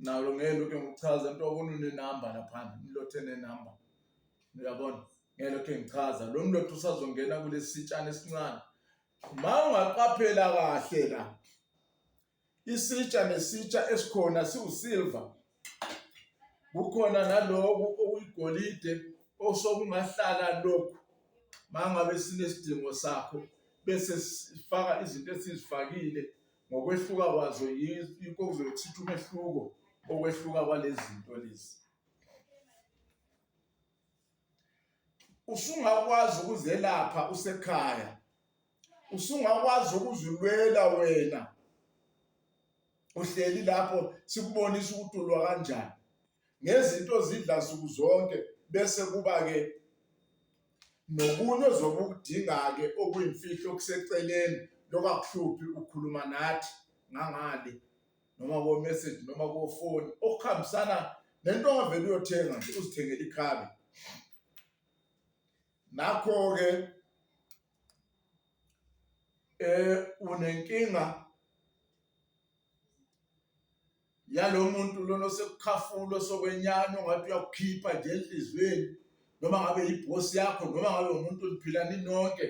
nalo ngeke lokhe ngikuchaza into obona unenamba laphana umlothe nenamba uyabona ngeke lokhe ngichaza lo mlothe usazongena kulesi sitshana esincane ma ungaqaphela kahle la isitsha nesitsha esikhona siwusilver kukhona naloku okuyigolide osokungahlala lokhu mangabe sinesidingo sakho bese sifaka izinto esizifakile ngokwehluka kwazo yikho kuzothitha umehluko okwehluka kwalezi zinto lezi usungakwazi ukuzelapha usekhaya usungakwazi ukuzilwela wena uhleli lapho sikubonisa ukuthi ulwa kanjani ngezinto zidla nsuku zonke bese kuba-ke Nokunye ozobe ukudinga-ke okuyimfihlo okuseceleni lokungakuhluphi ukukhuluma nathi ngangale noma ko-message noma kofoni okuhambisana nento ongavele uyothenga nje uzithengele ikhabe nakho-ke um unenkinga yalo muntu lona osekukhafulo sokwenyana ongathi uyakukhipha nje enhliziyweni noma ngabe yibhosi yakho noma ngabe umuntu liphilani nonke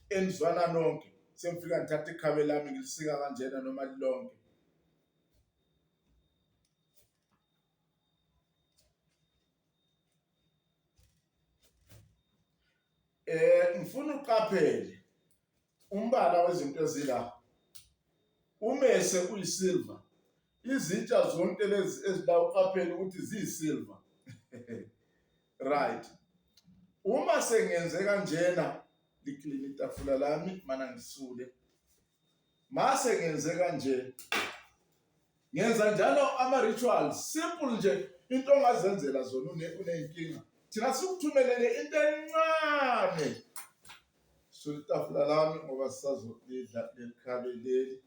enizwana nonke sengifika ngithatha ikhabe lami ngilisika kanjena noma lilonke eh ngifuna uqaphele Umbala wezinto ezila umese uyisilva izitsha zonke lezi ezila uqaphele ukuthi ziyisilva right uma sengenze kanjena liklini itafula lami mana ngisule mase ngenze kanje ngenza njalo ama-rituals simple nje into ongazenzela zona uney'nkinga thina sikuthumelele into encane Sula itafula lami ngoba sisazolidla leli khabe leli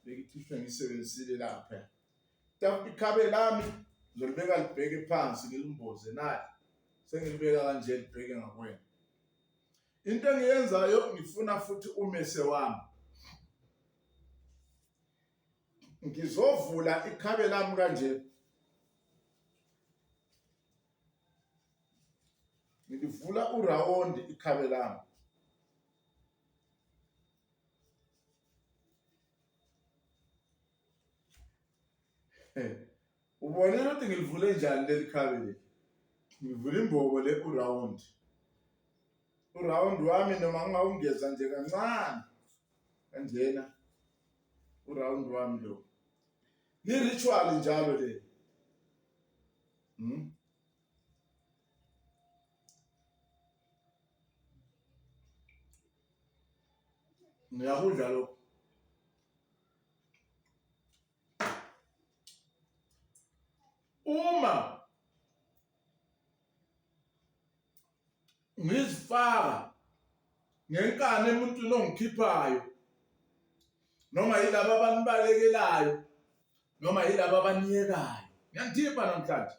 bengicishe ngisebenzisile lapha. Itafula ikhabe lami ngilibeka libheke phansi ngilimboze naye sengilibeka kanje libheke ngakwena. Into engiyenzayo ngifuna futhi umese wami. Ngizovula ikhabe lami kanje. ngilivula urawundi ikhabe lami ubonile ukuthi ngilivule njani leli khabe leli ngivula imbobo le urawundi urawundi wami noma ngingawungeza nje kancane kanjena urawundi wami lo ni-ritual njalo le Hmm? Ngiyakudla lokho. Uma ngizifaka ngenkani emuntwini ongikhiphayo noma yilabo abanibalekelaayo noma yilabo abaniyekayo ngiyanithipha namhlanje